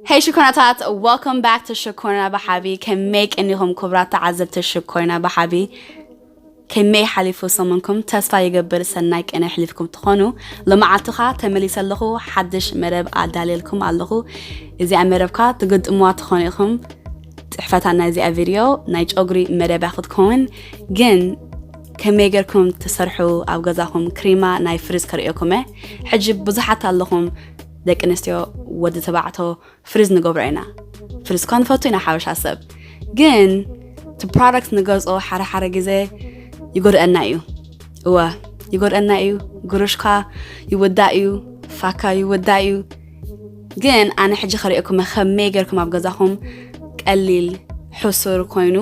Hey ሽኮናታት welcome back to ሽኮና ብሓቢ ከመይ ቀኒኹም ክብራት ተዓዘብቲ ሽኮና ብሓቢ ከመይ ሓሊፉ ሰሙንኩም ተስፋ ይገብር ሰናይ ቅነ ኣሕሊፍኩም ትኾኑ ሎመዓልትኻ ተመሊሰ ኣለኹ ሓድሽ መደብ ኣዳልየልኩም ኣለኹ እዚኣ መደብካ ትግጥምዋ ትኾኑ ኢኹም ፅሕፈታ ናይ እዚኣ ቪድዮ ናይ ጨጉሪ መደብያ ክትከውን ግን ከመይ ጌርኩም ትሰርሑ ኣብ ገዛኹም ክሪማ ናይ ፍሪዝ ከርእየኩም ሕጂ ብዙሓት ኣለኹም ደቂ ኣንስትዮ ወዲ ተባዕቶ ፍሪዝ ንገብሮ ኢና ፍሪዝ እኳ ንፈቱ ኢና ሓበሻ ሰብ ግን እቲ ፕሮዳክት ንገዝኦ ሓደ ሓደ ግዜ ይጎድአና እዩ እወ ይጎድአና እዩ ጉርሽካ ይውዳእ እዩ ፋካ ይውዳእ እዩ ግን ኣነ ሕጂ ከሪኦኩመ ከመይ ገርኩም ኣብ ገዛኹም ቀሊል ሕሱር ኮይኑ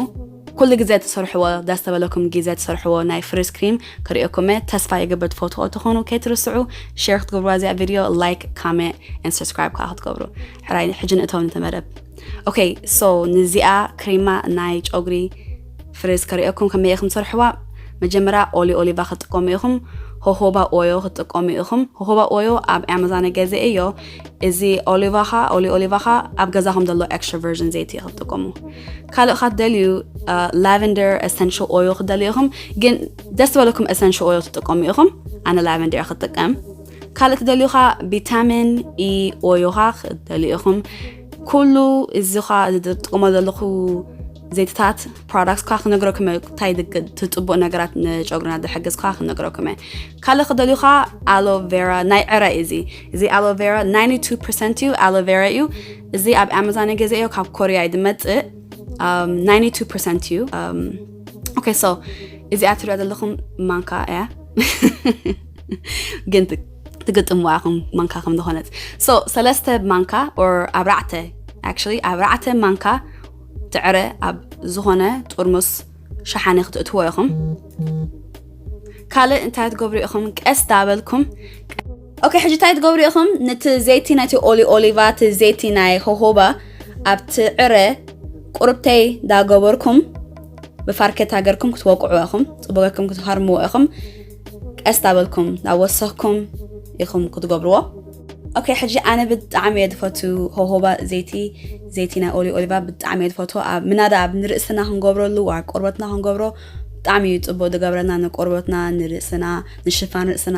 ኩሉ ግዘ ትሰርሕዎ ደስ ተበለኩም ጊዘ ትሰርሕዎ ናይ ፍሪዝ ክሪም ክሪኤኩመ ተስፋ ይገብር ትፈትዎ ተኮኑ ከይትርስዑ ሸር ክትገብርዋ እዚኣ ቪድዮ ላይክ ካሜት ን ሰብስክራይብ ካኣ ክትገብሩ ሕራይ ሕጂ ንእተው ነቲ መደብ ኦኬ ሶ ንዚኣ ክሪማ ናይ ጨጉሪ ፍሪዝ ከሪኤኩም ከመይ ኢኩም ትሰርሕዋ መጀመርያ ኦሊ ኦሊቫ ክትጥቀሙ ኢኩም ሆሆባ ኦዮ ክትጥቀሙ ኢኩም ሆሆባ ኦዮ ኣብ ኣማዛን ገዚኤዮ እዚ ኦሊቫኻ ኦሊ ኦሊቫኻ ኣብ ገዛኹም ዘሎ ኤክስትራ ቨርዥን ዘይቲ ክትጥቀሙ ካልእ ካ ትደልዩ ላቨንደር ኤሰንሽል ኦዮ ክትደልዩ ኢኹም ግን ደስ ዝበለኩም ኤሰንሽል ኦዮ ትጥቀሙ ኢኹም ኣነ ላቨንደር ክትጥቀም ካልእ ትደልዩ ካ ቪታሚን ኢ ኦዮኻ ክትደልዩ ኢኹም ኩሉ እዚ ካ ዝጥቀሞ ዘለኹ ዘይትታት ፕሮዳክት ካ ክነግረኩም እየ እንታይ ትፅቡቅ ነገራት ንጨጉርና ዝሕግዝ ካ ክነግረኩም እየ ካልእ ክደልዩካ ኣሎቬራ ናይ ዕረ እዚ እዚ ኣሎቬራ ናይንቲ ቱ ፐርሰንት እዩ ኣሎቬራ እዩ እዚ ኣብ ኣማዛን ገዘዮ ካብ ኮርያ እዩ ዝመፅእ ናይንቲ ቱ ፐርሰንት እዩ ኦኬ ሶ እዚኣ ትሪኦ ዘለኹም ማንካ እያ ግን ትግጥምዋ ኢኹም ማንካ ከም ዝኾነት ሶ ሰለስተ ማንካ ኦር ኣብራዕተ ኣክቹዋሊ ኣብራዕተ ማንካ ትዕረ ኣብ ዝኾነ ጥርሙስ ሸሓነ ክትእትዎ ኢኹም ካልእ እንታይ ትገብሩ ኢኹም ቀስ ዳበልኩም ኦኬ ሕጂ እንታይ ትገብሩ ኢኹም ነቲ ዘይቲ ናይቲ ኦሊ ኦሊቫ እቲ ዘይቲ ናይ ሆሆባ ኣብቲ ዕረ ቁርብተይ ዳገበርኩም ብፋርኬታ ገርኩም ክትወቅዑ ኢኹም ፅቡቅ ገርኩም ክትሃርምዎ ኢኹም ቀስ ዳበልኩም ዳወሰኽኩም ኢኹም ክትገብርዎ ኦኬ ሕጂ ኣነ ብጣዕሚ እየ ዝፈቱ ሆሆባ ዘይቲ ዘይቲ ናይ ኦሊ ኦሊቫ ብጣዕሚ እየ ዝፈቱ ኣብ ምናዳ ኣብ ንርእስና ክንገብረሉ ኣብ ቆርበትና ክንገብሮ ብጣዕሚ እዩ ፅቡቅ ዝገብረና ንቆርበትና ንርእስና ንሽፋን ርእስና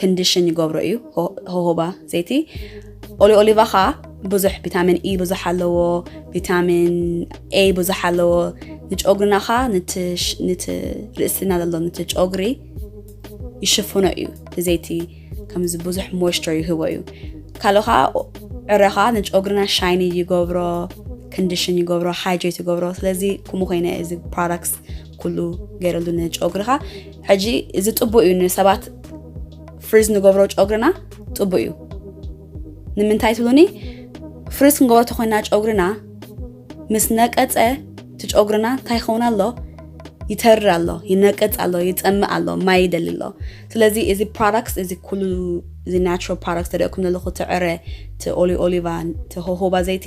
ክንድሽን ይገብሮ እዩ ሆሆባ ዘይቲ ኦሊ ኦሊቫ ከዓ ብዙሕ ቪታሚን ኢ ብዙሕ ኣለዎ ቪታሚን ኤ ብዙሕ ኣለዎ ንጨጉሪና ከዓ ንቲ ርእስና ዘሎ ንቲ ጨጉሪ ይሽፍኖ እዩ ብዘይቲ ከምዚ ብዙሕ ሞይስቸር ይህቦ እዩ ካልኦ ከዓ ዕረ ከዓ ንጨጉሪና ሻይኒ ይገብሮ ክንድሽን ይገብሮ ሃይድሬት ይገብሮ ስለዚ ከምኡ ኮይነ እዚ ፕሮዳክት ኩሉ ገይረሉ ንጨጉርኻ ሕጂ እዚ ጥቡእ እዩ ንሰባት ፍሪዝ ንገብሮ ጨጉርና ጥቡእ እዩ ንምንታይ ትብሉኒ ፍሪዝ ክንገብሮ ተኮይና ጨጉርና ምስ ነቀፀ እቲ ጨጉርና እንታይ ይኸውን ኣሎ ይተርር ኣሎ ይነቅፅ ኣሎ ይፀምእ ኣሎ ማይ ይደሊ ኣሎ ስለዚ እዚ ፕሮዳክት እዚ ኩሉ እዚ ናትራል ፕሮዳክት ተደእኩም ዘለኹ ትዕረ እቲ ኦሊ ኦሊቫ እቲ ሆሆባ ዘይቲ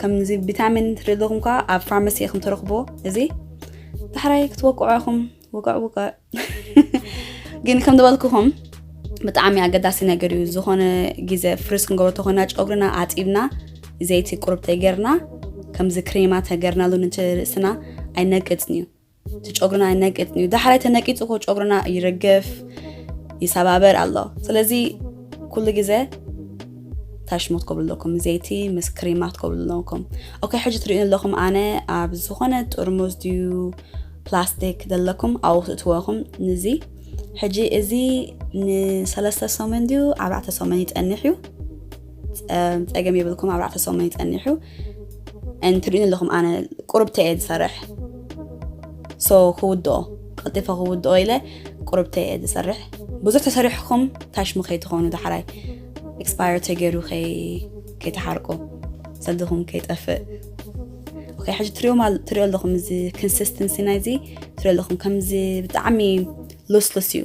ከምዚ ቪታሚን ትደለኹም ከዓ ኣብ ፋርማሲ ኢኹም ትረኽብዎ እዚ ዳሕራይ ክትወቅዑ ኢኹም ውቅዕ ውቅዕ ግን ከም ዝበልኩኹም ብጣዕሚ ኣገዳሲ ነገር እዩ ዝኾነ ግዜ ፍርስ ክንገብሮ ተኾይና ጨጉርና ኣጢብና ዘይቲ ቁርብ ተገርና ከምዚ ክሬማ ተገርናሉ ንርእስና ኣይነቅፅን እዩ እቲ ጨጉርና ይነቅጥ እዩ ዳሕራይ ተነቂጡ ኮ ጨጉርና ይርግፍ ይሰባበር ኣሎ ስለዚ ኩሉ ግዜ ታሽሞት ኮብሉ ኣለኩም ዘይቲ ምስ ክሪማት ኮብሉ ኣለኩም ኦኬ ሕጂ ትሪእኒ ኣለኹም ኣነ ኣብ ዝኾነ ጥርሙዝ ድዩ ፕላስቲክ ዘለኩም ኣብኡ ትእትወኹም ንዚ ሕጂ እዚ ንሰለስተ ሰሙን ድዩ ኣርባዕተ ሰሙን ይፀንሕ እዩ ፀገም የብልኩም ኣርባዕተ ሰሙን ይፀንሕ እዩ and ትርእዩኒ ኣለኹም ኣነ ቁርብተ እየ ዝሰርሕ ሶ ክውድኦ ቀልጢፈ ክውድኦ ኢለ ቁርብተ እየ ዝሰርሕ ብዙሕ ተሰሪሕኩም ታሽሙ ከይትኾኑ ዳሕራይ ኤክስፓየር ተገይሩ ከይተሓርቁ ሰድኹም ከይጠፍእ ኦኬ ሕጂ ትሪኦ ትሪኦ ኣለኹም እዚ ኮንሲስተንሲ ናይዚ ትሪኦ ኣለኹም ከምዚ ብጣዕሚ ሉስሉስ እዩ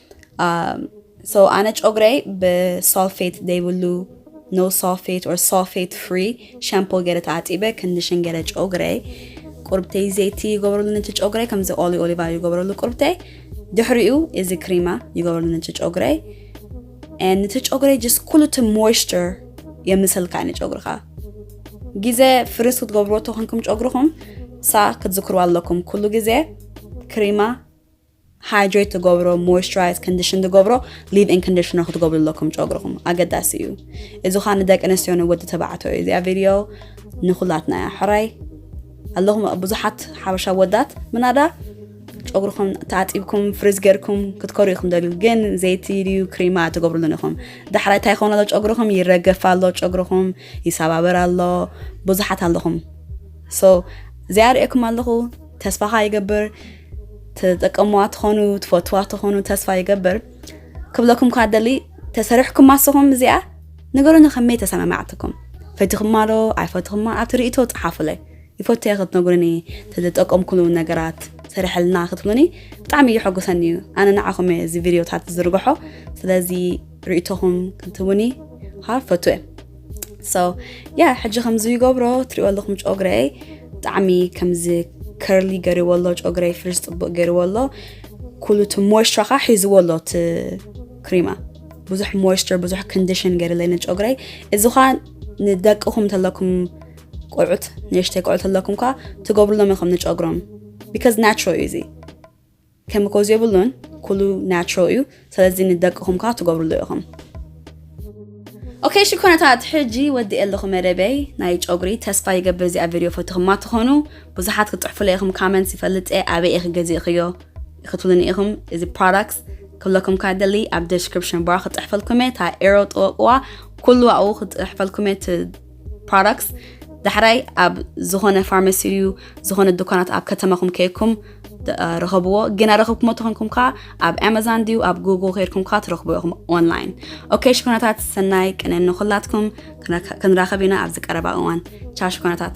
ሶ ኣነ ጨጉረይ ብሳልፌት ዘይብሉ ኖ ሳልፌት ኦር ሳልፌት ፍሪ ሻምፖ ገይረ ተዓጢበ ክንድሽን ገይረ ጨጉረይ ቁርብተይ ዘይቲ ይገብረሉ ነቲ ጨጉረይ ከምዚ ኦሊ ኦሊቫ ይገብረሉ ቁርብተይ ድሕሪኡ እዚ ክሪማ ይገብረሉ ነቲ ጨጉረይ ነቲ ጨጉረይ ጀስ ኩሉ እቲ ሞይስቸር የምሰልካ ዩ ጨጉርካ ግዜ ፍርስ ክትገብርዎ ተኾንኩም ጨጉርኹም ሳ ክትዝክርዋ ኣለኩም ኩሉ ግዜ ክሪማ ሃይድሬት ትገብሮ ሞይስቸራይዝ ኮንዲሽን ትገብሮ ሊቭ ኢን ኮንዲሽነር ክትገብሩ ኣለኩም ጨጉርኹም ኣገዳሲ እዩ እዚ ኳ ንደቂ ኣንስትዮ ንወዲ ተባዕትዮ እዩ እዚኣ ቪድዮ ንኩላትና እያ ሕራይ ኣለኹም ብዙሓት ሓበሻ ወዳት ምናዳ ጨጉርኹም ተኣጢብኩም ፍሪዝ ገርኩም ክትከሩ ኢኹም ደልዩ ግን ዘይቲ ድዩ ክሪማ ትገብርሉን ኢኹም ዳሕራይ እንታይ ይኸውን ኣሎ ጨጉርኹም ይረገፍ ኣሎ ጨጉርኹም ይሰባበር ኣሎ ብዙሓት ኣለኹም ሶ እዚኣ ርእኩም ኣለኹ ተስፋኻ ይገብር ትጠቀምዋ ትኾኑ ትፈትዋ ትኾኑ ተስፋ ይገብር ክብለኩም ኳ ደሊ ተሰሪሕኩም ማስኹም እዚኣ ንገሩኒ ከመይ ተሰማማዕትኩም ፈቲኹማ ዶ ኣይፈትኹማ ኣብቲ ርእቶ ፀሓፉለይ ይፈትየ ክትነግሩኒ ተዝጠቀምኩሉ ነገራት ሰሪሐልና ክትብሉኒ ብጣዕሚ እዩ ሕጉሰኒ እዩ ኣነ ንዓኹም እየ እዚ ቪድዮታት ዝዝርግሖ ስለዚ ርእቶኹም ክትቡኒ ካ ፈቱ እየ ሰው ያ ሕጂ ከምዚ ይገብሮ ትሪኦ ኣለኹም ጮግረይ ብጣዕሚ ከምዚ ከርሊ ገሪዎ ኣሎ ጮግረይ ፍርስ ፅቡቅ ገሪዎ ኣሎ ኩሉ እቲ ሞይስቸር ከዓ ሒዝዎ ኣሎ እቲ ክሪማ ብዙሕ ሞይስቸር ብዙሕ ኮንዲሽን ገይርለይ ንጮግረይ እዚ ከዓ ንደቅኹም እንተለኩም ቆልዑት ንእሽተይ ቆልዑት ኣለኩም ከዓ ትገብርሎም ኢኹም ንጨጉሮም ቢካዝ ናቹራል እዩ እዚ ኬሚኮዝ የብሉን ኩሉ ናቹራል እዩ ሰለዚ ንደቅኹም ከኣ ትገብርሉ ኢኹም። ኦከይ እሺ ኮነታት ሕጂ ወዲኤ ኣለኹ መደበይ ናይ ጨጉሪ ተስፋ ይገብር እዚኣ ቪድዮ ፈትኹማ ትኾኑ ብዙሓት ክትጽሕፉለይ ኢኹም ካመንትስ ይፈልጥ እየ ኣበይ ኢኺ ገዚእኽዮ ክትብሉኒ ኢኹም እዚ ፕሮዳክትስ ክብለኩም ካብ ደሊ ኣብ ደስክሪፕሽን ባር ክጽሕፈልኩም እየ እታ ኤሮ ጥወቅዋ ኩሉ ኣብኡ ክጽሕፈልኩም እየ ፕሮዳክትስ ዳሕራይ ኣብ ዝኾነ ፋርማሲ ዩ ዝኾነ ዱካናት ኣብ ከተማኹም ከይኩም ረኸብዎ ግና ረኸብኩሞ ተኾንኩም ከዓ ኣብ ኣማዛን ድዩ ኣብ ጉግል ከይድኩም ከዓ ትረኽቡ ኢኹም ኦንላይን ኦኬ ሽኮናታት ሰናይ ቅነ ንኹላትኩም ክንራኸብ ኢና ኣብዚ ቀረባ እዋን ቻው ሽኮናታት